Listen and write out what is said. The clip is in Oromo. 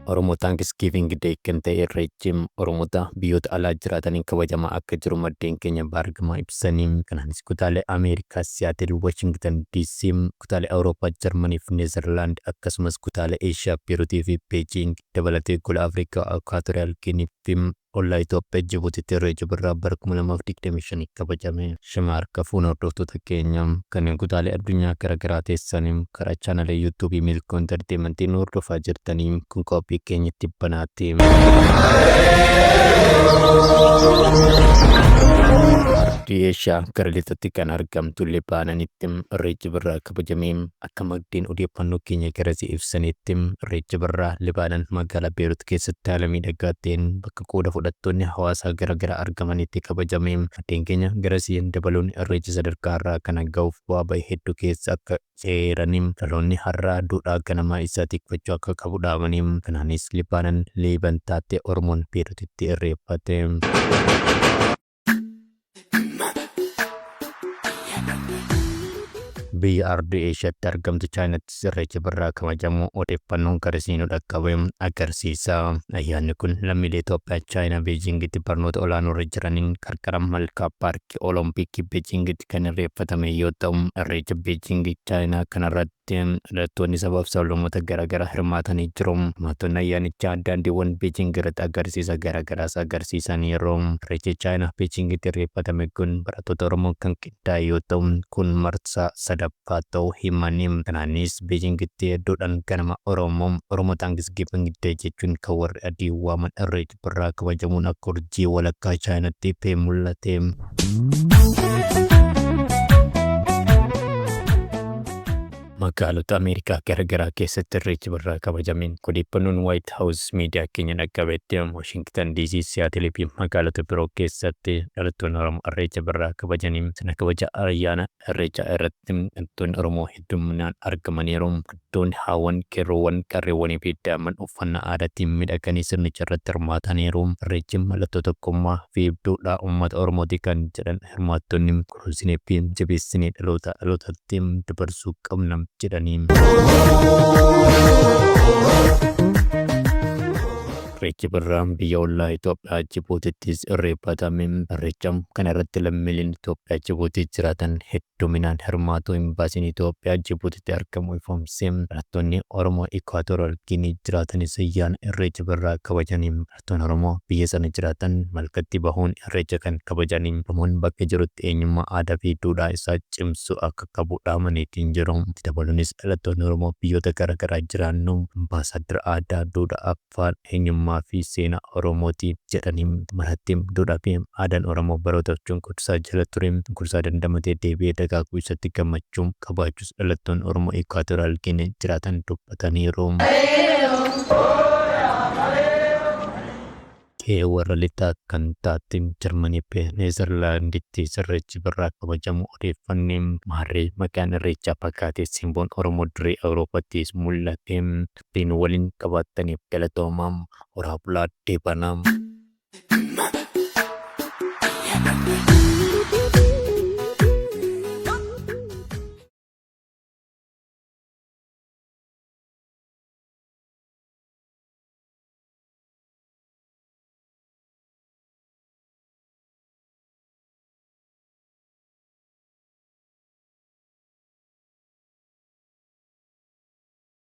Oromoo Thanksgiving Day kan ta'e Irreechi Oromoota biyyoota alaa jiraataniin kabajamaa akka jiru maddeen keenya baargamaa ibsanii kanaanis kutaalee Ameerikaa Siyaatil, Washington DC, kutaalee Awurooppaa Jarmanii fi Neezerlaand akkasumas kutaalee Eeshiyaa Beerutii fi Beejiing dabalatee gola Afrikaa Ekwaatoriyaal Giinii fi Ollaa Itoophiyaa Jibutitti Irreecha Birraa bara 2025 kabajame. Shama harka fuune hordoftoota keenya kanneen kutaalee addunyaa gara garaa teessan karaa chaanala YouTube Milkoo Entertainment nu hordofaa jirtani. Kun qophii keenya tibbanaati. Ardii Eeshiyaa gara lixatti kan argamtu Libaananitti Irreechi Birraa kabajame. Akka maddeen odeeffannoo keenya garasii ibsaniitti, Irreecha barra Libaanan magaalaa Beerut keessatti haala miidhagaa ta'een bakka qooda fudhattoonni hawaasaa gara garaa argamanitti kabajame. Maddeen keenya garasii dabaluun Irreechi sadarkaa har'aa kana gahuuf bu'aa ba'e hedduu keessa akka eeranii, dhaloonni har'aa duudhaa ganamaa isaa tikfachuu akka qabu dhaamanii, kanaanis Libaanan Liiban taate Oromoon Beerutitti irreeffate. Biyya Ardii Eeshiyaatti argamtu Chaayinattis Irreechi Birraa kabajamu odeeffannoon gara isinii nu dhaqqabe agarsiisa. Ayyaanni kun lammiilee Itoophiyaa Chaayinaa Beejiingitti barnoota olaanoorra jiraniin qarqara malkaa paarkii Olompikii Beejiingitti kan irreeffatame yoo ta'u, Irreecha Beejiingi Chaayinaa kanarratti irratti dhalattoonni sabaaf sablammoota garaagaraa hirmaatanii jiru. Hirmaattonni ayyaanichaa daandiiwwan Beejiing irratti agarsiisa garaagaraas agarsiisaniiru. Irreechi Chaayinaa Beejiingitti irreeffatame kun barattoota Oromoon kan qindaa'e yoo ta'u, kun marsaa sadaffaa ta'uu himani. Kanaanis Beejiingitti hedduudhaan ganama Oromoo, Oromo Thanksgiving Day, jechuun kan warri adii waaman Irreecha. Birraa kabajamuun akka urjii walakkaa Chaayinaatti ifee mul'ate. Magaalota Ameerikaa garagaraa keessatti Irreechi Birraa kabajame. Odeeffannoon Waayit Haawus miidiyaa keenya dhaqqabetti Waashingtan DC, Siyaatil fi magaalota biroo keessatti dhalattoonni Oromoo Irreecha Birraa kabajanii sirna kabaja ayyaana Irreechaa irratti dhalattoonni Oromoo hedduminaan argamaniiru. Dubartoonni, haawwan, qeerroowwan, qarreewwaniifi daa'imman uffannaa aadaatiin miidhaganii sirnicharratti hirmaataniiru. Irreechi mallattoo tokkummaa, fiibduudhaa uummata Oromooti kan jedhan hirmaattonni, kunuunsineefi jabeessinee dhalootaa dhalootatti dabarsuu qabna jedhanii. Irreechi birraa biyya ollaa Itoophiyaa Jibuutittis irreeffatame. Irreecha kana irratti lammiileen Itoophiyaa Jibuutii jiraatan hedduun. Dominaan hirmaatuu Imbaasiin Itoophiyaa Jibuutitti argamu ifoomse. Barattoonni Oromoo Ikuwaatoraal Giinii jiraatanis ayyaana Irreecha Birraa kabajani. Barattoonni Oromoo biyya sana jiraatan malkatti bahuun Irreecha kan kabajani. Oromoon bakka jirutti eenyummaa, aadaafi duudhaa isaa cimsuu akka qabu dhaamaniitiin jiru. Itti dabaluunis dhalattoonni Oromoo biyyoota gara garaa jiraannu Ambaasaaddara Aadaa, Duudhaa, Afaan, eenyummaa fi seenaa Oromooti jedhanii marhatti. Duudhaa fi aadaan Oromoo barootaaf cunqursaa jala ture cunqursaa dandamatee deebi'ee dagaaguu isaatti gammachuu qabaachuus dhalattoonni Oromoo Ikuwaatoraal Giinii jiraatan dubbataniiru. Qe'ee warra lixaa kan taate Jarmanii fi Neezarlaanditti Irreechi Birraa kabajamuu odeeffanne. Maarree maqaan Irreechaa fagaatee simboon Oromoo durii Awurooppaattis mul'ate. Warri nu waliin qabaattaniif galatooma. Horaa bulaa deebanaa.